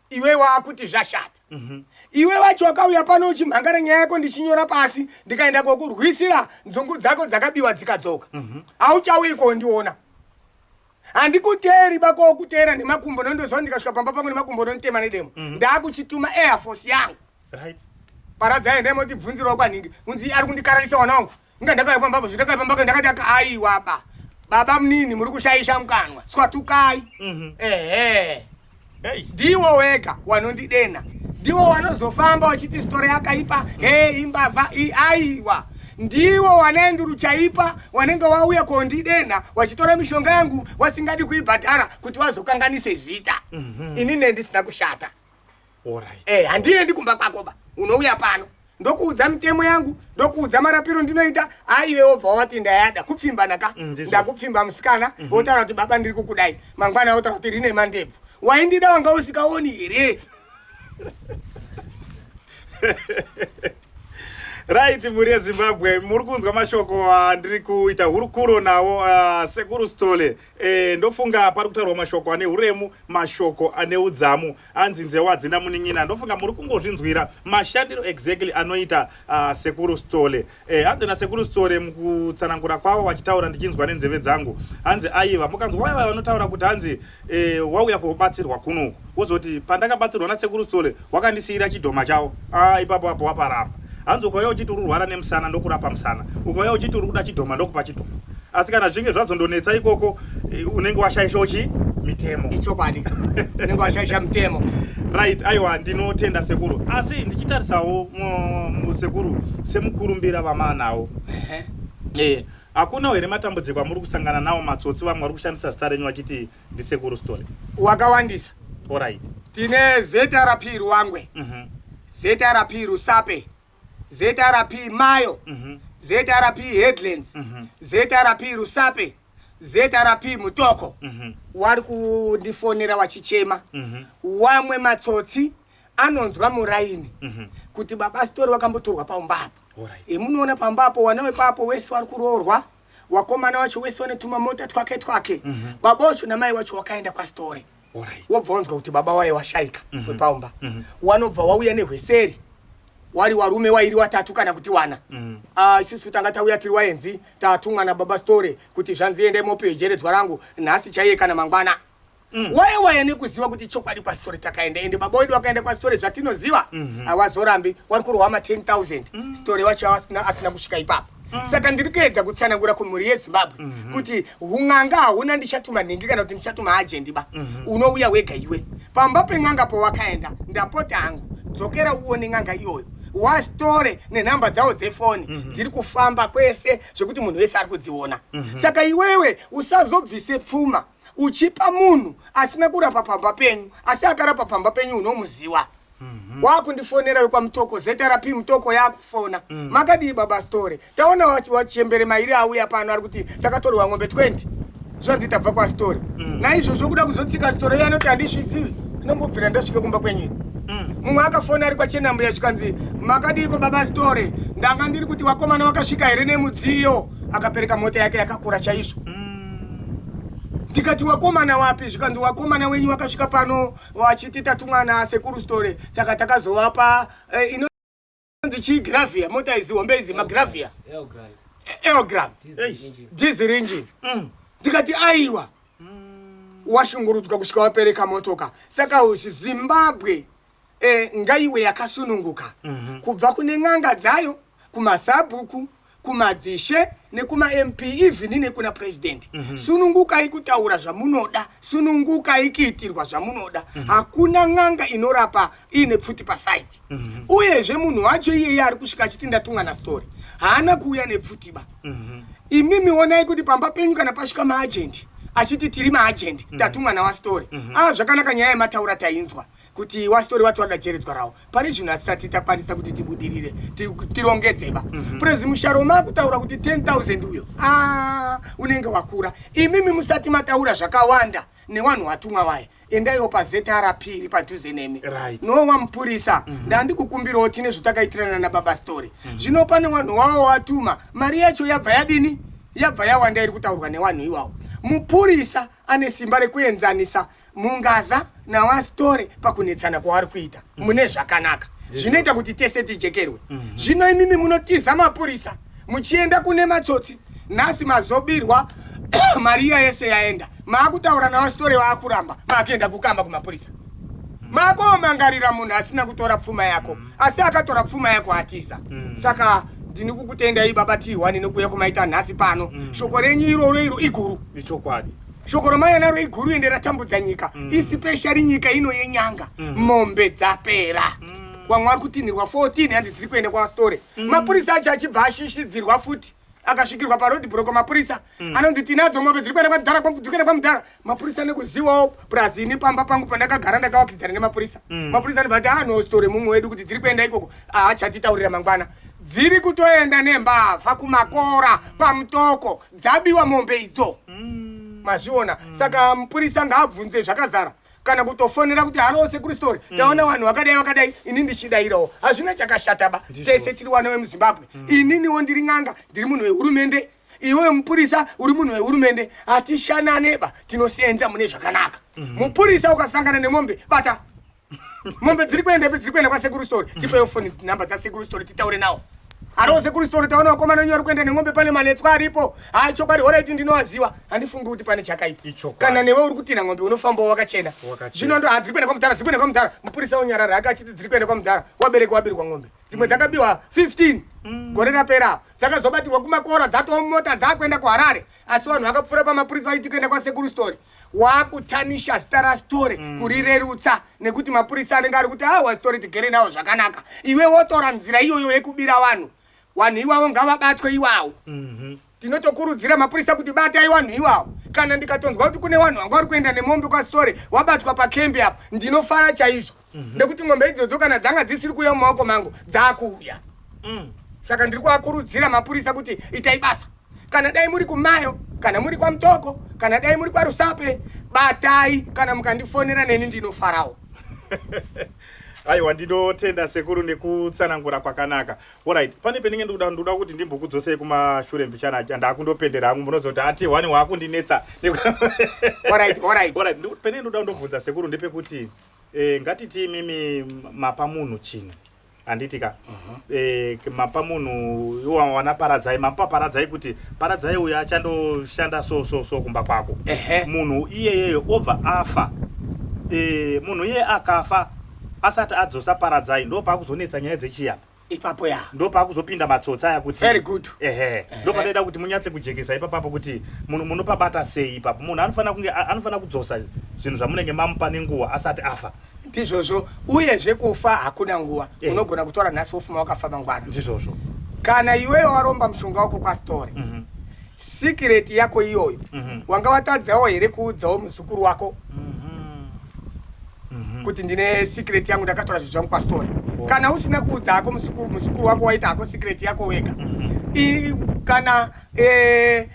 iwe wakuti zvashata mhm. iwe wacho wakauya pano uchimhangara nyaya yako ndichinyora pasi ndikaenda kokurwisira nzungu dzako dzakabiwa dzikadzoka mhm. hauchauyi kondiona handikuteeri bako wokuteera nemakumbo nondoziva ndikasvika pamba pangu nemakumbo ononitema nedemo mhm. ndaakuchituma airforce yangu paradzai ndemoti bvunzirawo kwanhingi unzi ari kundikararisa wana wangu Inga ndakauya pamba apo, zvindakauya pamba apo ndakati aka aiwa ba. Baba munini muri kushaisha mukanwa. Swatukai. Mhm. Ehe. Hey. Ndiwo wega wanondidena. Ndiwo wanozofamba wachiti story yakaipa. Hey imbavha i aiwa. Ndiwo wanenduru chaipa wanenge wauya kondidena wachitora mishonga yangu wasingadi kuibhadhara kuti wazokanganise zita. Mhm. Ini nendisina kushata. Alright. Eh, handiendi kumba kwako ba. Unouya pano. Ndokuudza mitemo yangu, ndokuudza marapiro ndinoita, aiwe obva wati ndayada kupfimba naka. Mm, ndizvo. Ndakupfimba musikana, Mhm. wotaura kuti baba ndiri kukudai. Mangwana wotaura kuti rine mandebvu. Waindida wanga usikaoni here? right mhuri yezimbabwe muri kunzwa mashoko andiri kuita hurukuro nawo ah, sekuru stole Eh, ndofunga pari kutaurwa mashoko ane uremu mashoko ane udzamu anzi nzewo hadzina munin'ina ndofunga muri kungozvinzwira mashandiro exactly anoita uh, sekuru stole eh, hanzi nasekuru stole mukutsanangura kwavo vachitaura ndichinzwa nenzeve dzangu hanzi aiva mukanzwa vaiva vanotaura kuti hanzi eh, wauya kuobatsirwa kunoku wozoti pandakabatsirwa nasekuru stole wakandisiyira chidhoma chawo ah ipapo apo waparamba hanzi ukauya uchiti uri kurwara nemusana ndokurapa musana ukauya uchiti uri kuda chidhoma ndokupa chidhoma asi kana zvinge zvazondonetsa ikoko eh, unenge washaisha uchi mitemo ichokwadi unenge washaisha mitemo right aiwa ndinotenda sekuru asi ndichitarisawo musekuru semukurumbira vamaanawo ehe eh, hakuna here matambudziko amuri kusangana nawo matsotsi vamwe vari kushandisa zita renyu vachiti ndisekuru stole wakawandisa orit tine zrp ruwangwe mm -hmm. zrp rusape zrp mayo mm -hmm. zrp headlands mm -hmm. zrp rusape zrp mutoko mm -hmm. wari kundifonera wachichema mm -hmm. wamwe matsotsi anonzwa muraini mm -hmm. kuti baba sitori wakambotorwa pamba apo right. emunoona pamba apo wana wepapo wese wari kuroorwa wakomana wacho wese wane tumamota twake twake mm -hmm. baba wacho namai wacho wakaenda kwasitore right. wobva wanzwa kuti baba waye washaika mm -hmm. wepaumba mm -hmm. wanobva wauya nehweseri wari warume wairi watatu kana kuti wana mm. uh, isusu tanga tauya tiri waenzi tatumwa nababa store kuti zvanzi endai mopejeredzwa rangu nhasi chaiye kana mangwana Mm. waye waye nekuziva kuti chokwadi kwasitore takaenda ende baba wedu vakaenda kwasitore zvatinoziva mhm. havazorambi wari kurohama 10000 mm. sitore wacho asina, asina kusvika ipapo mm. saka ndiri kuedza kutsanangura kumhuri yezimbabwe mm -hmm. kuti un'anga hauna ndichatuma nhingi kana kuti ndichatuma ajendi ba mm -hmm. unouya wega iwe pamba pen'anga powakaenda ndapota hangu dzokera uone n'anga iyoyo wasitore nenhamba dzawo dzefoni mm -hmm. dziri kufamba kwese zvekuti munhu wese ari kudziona mm -hmm. saka iwewe usazobvise pfuma uchipa munhu asina kurapa pamba penyu asi akarapa pamba penyu unomuziwa mhm. wakundifonera wekwamutoko zrp mutoko yakufona mm. makadii baba story taona wachembere mairi auya pano ari kuti takatorwa ng'ombe 20 zvanzi tabva kwastory mm. naizvozvo kuda kuzotsika story yanoti handisvizivi ndinombobvira ndasvike kumba kwenyini mm. mumwe akafona ari kwachenambuya zvikanzi makadiiko baba story ndanga ndiri kuti wakomana wakasvika here nemudziyo akapereka mota yake yakakura chaizvo mm. ndikati wakomana wapi zvikanzi wakomana wenyu wakasvika pano vachiti tatumwana sekuru story saka takazovapa eh, ino nzi chii gravia mota izi hombe izi magravia eogram diesel engine mm. ndikati aiwa mm. washungurudzwa kusvika wapereka motoka saka zimbabwe eh, ngaiwe yakasununguka mhm. kubva kune n'anga dzayo kumasabhuku kumadzishe nekumamp even nekuna purezidendi mm -hmm. sunungukai kutaura zvamunoda sunungukai kuitirwa zvamunoda mm -hmm. hakuna n'anga inorapa iine pfuti pasaidi mm -hmm. uyezve munhu wacho iyeye ari kusvika achiti ndatumwa nastori haana kuuya nepfutiba mm -hmm. imimi onai kuti pamba penyu kana pasvika maajendi achiti tiri maajendi mm -hmm. tatumwa nawastori mm -hmm. a ah, zvakanaka nyaya yemataura tainzwa kuti wasitori wati wada cheredzwa rawo pane zvinhu hatisati takwanisa kuti tibudirire tirongedzeba mhm. purezi musharo makutaura kuti 10000 uyo ah, unenge wakura imimi musati mataura zvakawanda newanhu watumwa waye endaiwo pazetrp iri padhuze nemi nowa mupurisa mhm. ndandikukumbirawo tine zvatakaitirana nababa story mhm. zvino pane wanhu wawo watuma mari yacho yabva yadini yabva yawanda iri kutaurwa newanhu iwawo mupurisa ane simba rekuenzanisa mungaza nawasitore pakunetsana kwaari kuita mm. mune zvakanaka zvinoita kuti tese tijekerwe mm-hmm. zvino imimi munotiza mapurisa muchienda kune matsotsi nhasi mazobirwa mari iya yese yaenda maakutaura nawasitore waakuramba maakuenda kukamba kumapurisa mm. maakomangarira munhu asina kutora pfuma yako mm. asi akatora pfuma yako atiza mm. saka ndini kukutendai baba tihwani nokuya kumaita nhasi pano shoko renyu iroro iro iguru ichokwadi shoko ramai anaro iguru ende ratambudza nyika mm. isipeshari nyika ino yenyanga mm. mombe dzapera kwamwari mm. kutinhirwa 14 hanzi dziri kuenda kwasitore mm. mapurisa acho achibva ashishidzirwa futi akasvikirwa parod broko mapurisa mm. anonzi tinadzo mombe dziri kuenda kwamudhara dziri kuenda kwamudhara mapurisa nekuzivawo plus ini pamba pangu pandakagara ndakawakidzana nemapurisa mm. mapurisa anobva ati anositore mumwe wedu kuti dziri kuenda ikoko aachatitaurira mangwana dziri kutoenda nembavha kumakora pamutoko dzabiwa mombe idzo mm. mazviona mm. saka mupurisa ngaabvunze zvakazara kana kutofonera kuti halo sekuru story mm. taona vanhu vakadai vakadai ini ndichidairawo hazvina chakashataba tese tiri wana vemuzimbabwe mm. ininiwo ndiri n'anga ndiri munhu wehurumende iwe mupurisa uri munhu wehurumende hatishananeba tinosenza mune zvakanaka mm-hmm. mupurisa ukasangana nemombe bata mombe dziri kuenda ipi dziri kuenda kwasekuru story tipewo foni number dzasekuru story titaure nawo aroo sekuru story taona vakomana wenyu vari kuenda nemombe pane manetswa aripo haa chokwadi horaiti ndinovaziva handifungi kuti pane chakaipa kana newe uri kutinha ngombe unofambawo wakachena zvino ndo hadziri kuenda kwamudhara dziri kuenda kwamudhara mupurisa unyarara ake achiti dziri kuenda kwamudhara wabereki wabirwa ngombe dzimwe dzakabiwa 15 mm. gore rapera apo dzakazobatirwa kumakora dzatoo mota dzaakuenda kuharare asi vanhu vakapfuura pamapurisa vaiti kuenda kwasekuru story wakutanisha zita rasitore mm. kurirerutsa nekuti mapurisa anenge ari kuti a ah, wasitore tigere nawo zvakanaka iwe wotora nzira iyoyo yekubira vanhu vanhu iwavo ngavabatwe iwawo mhm. tinotokurudzira mapurisa kuti batai vanhu iwawo kana ndikatonzwa kuti kune vanhu vanga vari kuenda nemombe kwasitore wabatwa pakembi apo ndinofara chaizvo mhm. nekuti ngombe idzodzo kana dzanga dzisiri kuuya mumaoko mangu dzakuuya mm. saka ndiri kuakurudzira mapurisa kuti itai basa kana dai muri kumayo kana muri kwamutoko kana dai muri kwarusape batai kana mukandifonera neni ndinofarawo aiwa ndinotenda sekuru nekutsanangura kwakanaka orit pane penenge ndikuda ndikuda kuti ndimbokudzosei kumashure mbichana ndakundopendera hangu munozoti ati wani waakundinetsa penenge ndikuda ndobvunza sekuru ndepekuti Eh, ngatiti imimi mapa munhu chinhu handiti ka uh -huh. eh, mapa munhu wana paradzai mapa paradzai kuti paradzai uyo achandoshanda so so so kumba kwako uh -huh. munhu iyeyeyo obva afa eh, munhu iye akafa asati adzosa paradzai ndo pakuzonetsa nyaya dzechiyapa ipapo ya ndo pakuzopinda matsotsi aya kuti very good ehe ndo panoita kuti munyatse kujekesa ipapapo kuti munhu munopabata sei ipapo munhu anofanira kunge anofanira kudzosa zvinhu zvamunenge mamupa nenguva asati afa ndizvozvo uyezve kufa hakuna nguva eh. unogona kutora nhasi wofuma wakafa mangwana ndizvozvo kana iweyo waromba mushonga wako kwasitore mm -hmm. sikireti yako iyoyo mhm. wanga watadzawo here kuudzawo muzukuru wako mhm. Mhm. kuti ndine sikireti yangu ndakatora zvinhu zvangu pastori oh. kana usina kuudza hako muzukuru wako waita hako sikireti yako wega kana eh,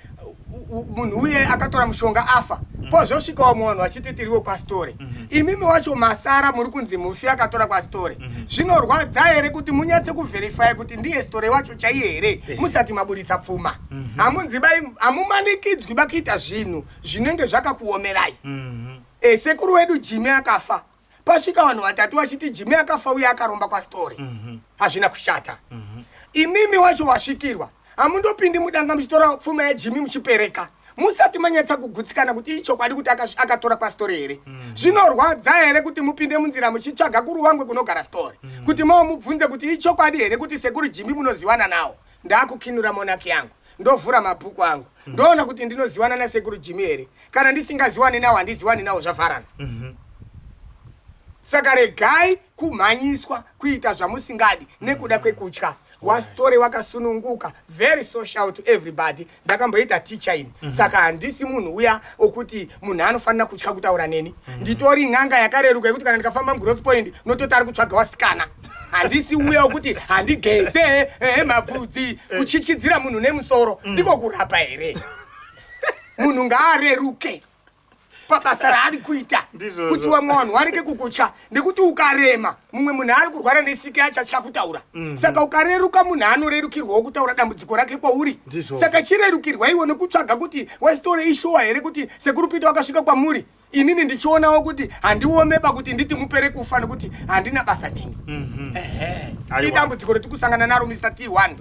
munhu uye akatora mushonga afa pozvosvika wamwe vanhu vachiti tiriwo kwasitore mhm. imimi wacho masara muri kunzi mufi akatora kwasitore mhm. zvinorwadza here kuti munyatse kuvherifaya kuti ndiye sitore wacho chaiye here musati maburitsa pfuma mhm. hamudzibai mm -hmm. hamumanikidzwi bakuita zvinhu zvinenge zvakakuomerai mm -hmm. e, sekuru wedu jimi akafa pasvika vanhu vatatu vachiti jimi akafa uye akaromba kwastori mhm. hazvina mm -hmm. kushata mm -hmm. imimi wacho wasvikirwa hamundopindi mudanga muchitora pfuma yajimi muchipereka musati manyatsa kugutsikana kuti ichokwadi kuti akatora kwastori here mm. zvinorwadza here kuti mupinde munzira muchitsvaga kuruwangwe kunogara stori mm. kuti mavo mubvunze kuti ichokwadi here kuti sekuru jimi munoziwana nawo ndakukinura monaki yangu ndovhura mabhuku angu mhm. ndoona kuti ndinoziwana nasekuru jimi here kana ndisingaziwani nawo handiziwani nawo zvavharana mhm. saka regai kumhanyiswa kuita zvamusingadi nekuda kwekutya wastore wakasununguka very social to everybody ndakamboita ticha ini mm -hmm. saka handisi munhu uya okuti munhu anofanira kutya kutaura neni mm -hmm. nditori n'anga yakareruka yekuti kana ndikafamba mugrowth point unototi ari kutsvaga wasikana handisi uya okuti handigeze ehe eh, eh, mabvudzi eh. kutyityidzira munhu nemusoro mm. ndiko kurapa here munhu ngaareruke pabasa raari kuita kuti vamwe vanhu vareke kukutya nekuti ukarema mumwe munhu ari kurwara nesiki achatya kutaura mhm. saka ukareruka munhu anorerukirwawo kutaura dambudziko rake kwauri saka chirerukirwa iwo nekutsvaga kuti wesitore ishuwa here kuti sekuru pita wakasvika kwamuri inini ndichionawo kuti handiomeba kuti nditi mupere kufa nekuti handina basa neni Mhm. idambudziko roti kusangana naro mr t one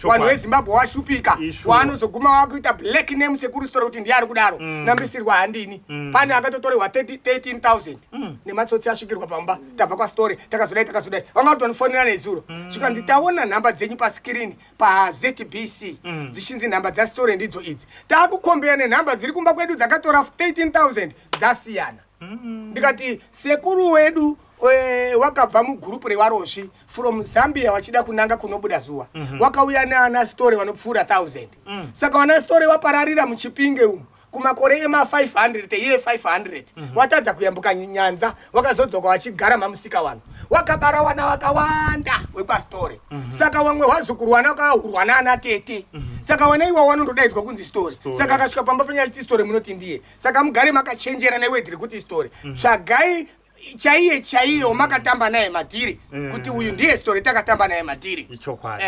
vanhu vezimbabwe washupika waanozoguma wakuita black name sekuru sitora kuti ndiye ari kudaro mm. nambisirwa handini mm. pane akatotorehwa 13000 mm. nematsotsi asvikirwa pamba tabva kwasitore takazodai takazodai vanga kutonifonera nezuro chikanzi taona nhamba dzenyu pasikirini pazbc dzichinzi nhamba dzasitore ndidzo idzi taakukombera nenhamba dziri kumba kwedu dzakatora 13000 dzasiyana mm. ndikati sekuru wedu eh, wakabva mugurupu rewarosvi from zambia wachida kunanga kunobuda zuva mm -hmm. wakauya naana story vanopfuura 1000 mm. saka vana story vapararira muchipinge umu kumakore ema 500 teiye 500 watadza kuyambuka nyanza wakazodzoka wachigara mamusika wano wakabara wana wakawanda wepasitore mhm. saka wamwe wazukuru wana wakahurwa naana tete mhm. saka wana iwa wanondodaidzwa kunzi story saka akasvika pamba penyaya chiti story munoti ndiye saka mugare makachenjera newe tiri kuti story mhm. tsvagai chaiye chaiye wamakatamba naye matiri eh. kuti uyu ndiye story takatamba naye matiri ichokwadi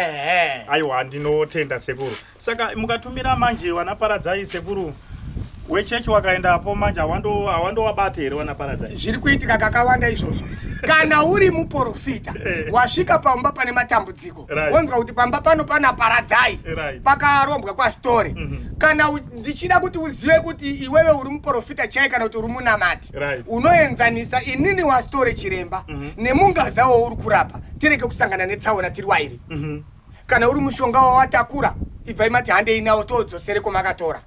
aiwa ndinotenda sekuru saka mukatumira manje wanaparadzai sekuru wechechi wakaenda apo manje hawandowabate here wanaparadza zviri kuitika kakawanda izvozvo kana uri muporofita eh. wasvika pamba pane matambudziko wonzwa kuti pamba pano pana paradzai pakarombwa kwasitore mhm. kana ndichida kuti uzive kuti iwewe uri muprofita chai kana kuti uri munamati unoenzanisa inini wasitore chiremba mhm. nemungaza wauri kurapa tireke kusangana netsaona tiri wairi mhm. kana uri mushonga wawatakura ibvai mati handei nawo toodzosere kwamakatora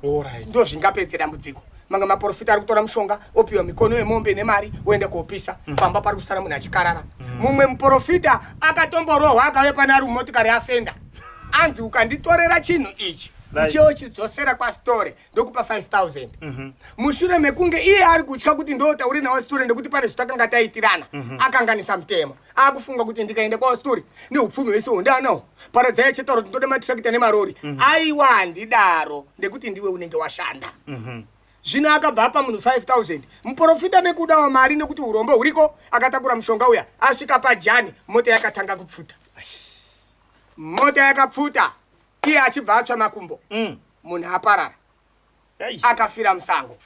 ndozvingapedze dambudziko manga maporofita ari kutora mushonga opiwa mikono yemombe nemari oenda kuopisa mm. pamba pari kusara munhu achikarara mm. mumwe mm. muporofita akatomborohwa akave pane ari mumotikari afenda anzi ukanditorera chinhu ichi uchiwo chidzosera kwasitore ndokupa 5000 mhm. mushure mekunge iye ari kutya kuti ndotaure nawo sitore nekuti pane zvitakanga taitirana mhm. akanganisa mutemo akufunga kuti ndikaenda kwavastori neupfumi hwese ho ndaanawo paradzai achitaura kuti ndoda matrakita nemarori mhm. aiwa handidaro ndekuti ndiwe unenge washanda mhm. zvino akabva apa munhu 5000 muprofita nekudawo mari nekuti urombo huriko akatakura mushonga uya asvika pajani mota yakatanga kupfuta mota yakapfuta iye achibva atsva makumbo mm. munhu aparara akafira musango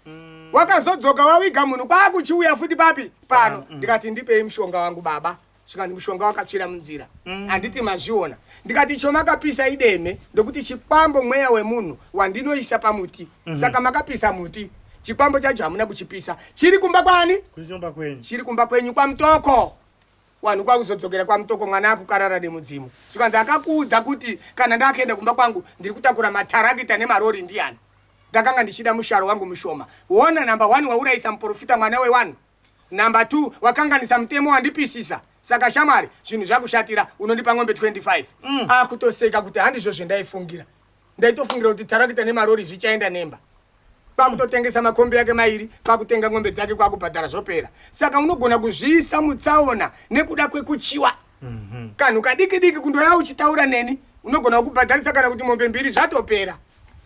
mm. wakazodzoka wawiga munhu kwakuchiuya futi papi pano ah, mm. ndikati ndipei mushonga wangu baba zvikanzi mushonga wakatsvira munzira mm. handiti mazviona ndikati icho makapisa ideme ndokuti chikwambo mweya wemunhu wandinoisa pamuti mm -hmm. saka makapisa muti chikwambo chacho hamuna kuchipisa chiri kumba kwani chiri kumba kwenyu kwamutoko wanhu kwakuzodzokera kwamutoko mwana akukarara nemudzimu zvikanzi akakuudza kuti kana ndakaenda kumba kwangu ndiri kutakura matarakita nemarori ndiyani ndakanga ndichida musharo wangu mushoma wona number one waurayisa muprofita mwana wewanhu number two wakanganisa mutemo wandipisisa saka shamwari zvinhu zvakushatira unondipa ng'ombe 25 mm. akutoseka kuti handizvo zvendaifungira ndaitofungira kuti tarakita nemarori zvichaenda nemba kwakutotengesa makombi yake mairi kwakutenga ng'ombe dzake kwakubhadhara zvopera saka unogona kuzviisa mutsaona nekuda kwekuchiwa mhm. kanhu kadiki diki kundoya uchitaura neni unogona kukubhadharisa kana kuti mombe mbiri zvatopera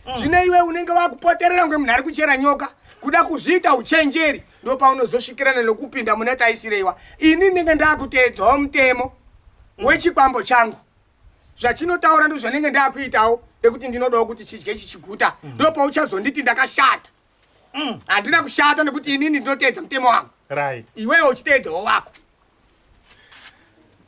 mm. zvine iwe unenge wakupoterera kunge munhu ari kuchera nyoka kuda kuzviita uchenjeri ndo paunozosvikirana nokupinda mune taisireiwa ini ndinenge ndakuteedzawo mutemo mm. wechikwambo changu zvachinotaura ndozvanenge ndakuitawo nekuti ndinodawo kuti chidye chichiguta mm. ndopauchazonditi ndakashata mm. handina mm. kushata nekuti inini ndinoteedza mutemo wangu right. iwewo uchiteedzawo wako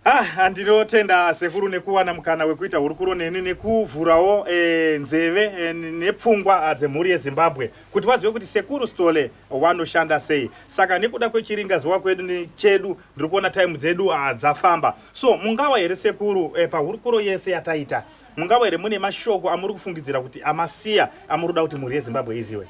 Ah, ndinotenda sekuru nekuwana mukana wekuita hurukuro neni nekuvhurawo e, nzeve e, nepfungwa ah, dzemhuri yezimbabwe kuti vazive kuti sekuru stole wanoshanda sei saka nekuda kwechiringa zuva kwedu chedu ndiri kuona taimu dzedu ah, dzafamba So mungawa here sekuru eh, pahurukuro yese yataita mungawa here mune mashoko amuri kufungidzira kuti amasiya amuri kuda kuti mhuri yezimbabwe iziwe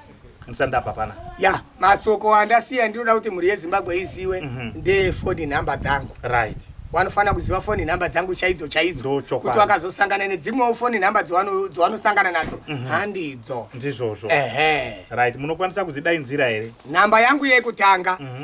ndisandapa pana ya masoko andasiya ndinoda kuti mhuri yezimbabwe iziwe mm -hmm. ndefoni nhamba dzangu right wanofanira kuziva foni nhamba dzangu chaidzo chaidzo kuti wakazosangana nedzimwewo foni nhamba dzowanosangana nadzo mhm. handidzo ndizvozvo ehe right munokwanisa kudzidainzira here nhamba yangu yekutanga mhm.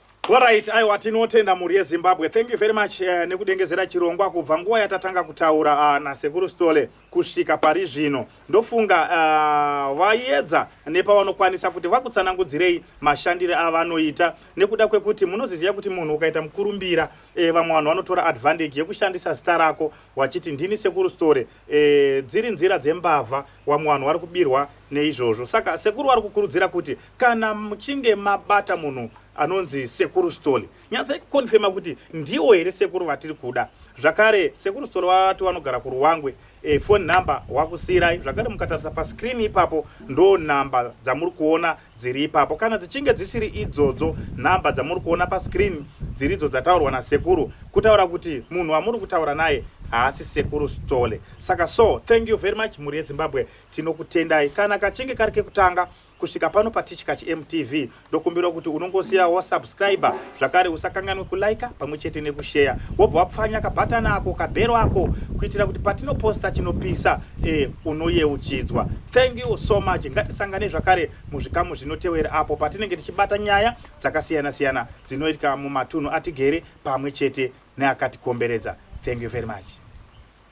Alright, aiwa tinotenda mhuri yeZimbabwe. Thank you very much uh, nekudengezera chirongwa kubva nguva yatatanga kutaura uh, eh, naSekuru Stole kusvika pari zvino. Ndofunga uh, eh, vayedza nepavanokwanisa kuti vakutsanangudzirei mashandire avanoita nekuda kwekuti munoziziva kuti munhu ukaita mukurumbira eh, vamwe vanhu vanotora advantage yekushandisa zita rako wachiti ndini Sekuru Stole E, dziri nzira dzembavha wamwe vanhu vari kubirwa neizvozvo saka sekuru vari kukurudzira kuti kana muchinge mabata munhu anonzi sekuru stoli nyatsai kukonfema kuti ndiwo here sekuru vatiri kuda zvakare sekuru stoli vati vanogara kuruwangwe e, eh, foni number wakusiirai zvakare mukatarisa pascreen ipapo ndo number dzamuri kuona dziri ipapo kana dzichinge dzisiri idzodzo nhamba dzamuri kuona pascreen dziri idzo dzataurwa nasekuru kutaura kuti munhu wamuri kutaura naye haasi sekuru stole saka so thank you very much mhuri yezimbabwe tinokutendai kana kachinge kari kekutanga kusvika pano patichi kachimtv ndokumbira kuti unongosiyawo subscriber zvakare usakanganwe kulaika pamwe chete nekusheya wobva wapfanya kabhatana ako kabhero ako kuitira kuti patinoposta chinopisa e, unoyeuchidzwa thank you so much ngatisangane zvakare muzvikamu zvinotevera apo patinenge tichibata nyaya dzakasiyana-siyana dzinoitika mumatunhu atigere pamwe chete neakatikomberedza thank you very much